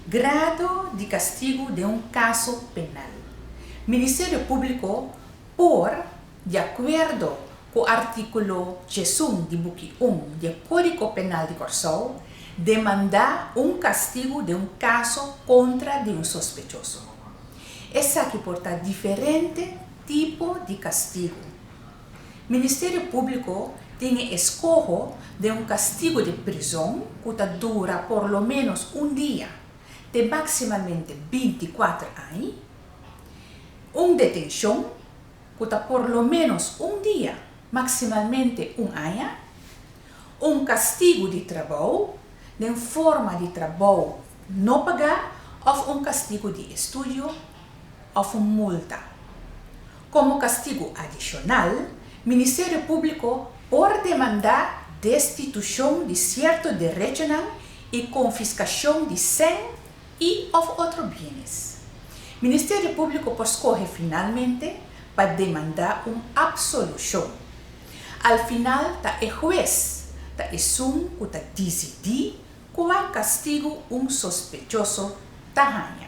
Grado di kastigu den un kaso penal. Ministerio Públiko por, di akuerdo ku artíkulo diesun di buki un di e Kódiko Penal di Kòrsou, demandá un kastigu den un kaso kontra di un sospechoso. Esaki por ta diferente tipo di kastigu. Ministerio Públiko tin e eskoho den un kastigo di prizon ku ta dura por lo ménos un dia te máksimamente binti kuater aña, un detenshon ku ta por lo ménos un dia máksimalmente un aña, un kastigo di trabou den forma di trabou no pagá òf un kastigo di estudio òf un multa. Komo kastigu adishonal, Ministerio Públiko por demandá destitushon di sierto derechonan i konfiskashon di sèn i òf otro bienes. Ministerio Públiko por skohe finalmente pa demandá un apsolushon. Al final ta e hues, ta esun ku ta disidí kua kastigu un sospechoso ta haña.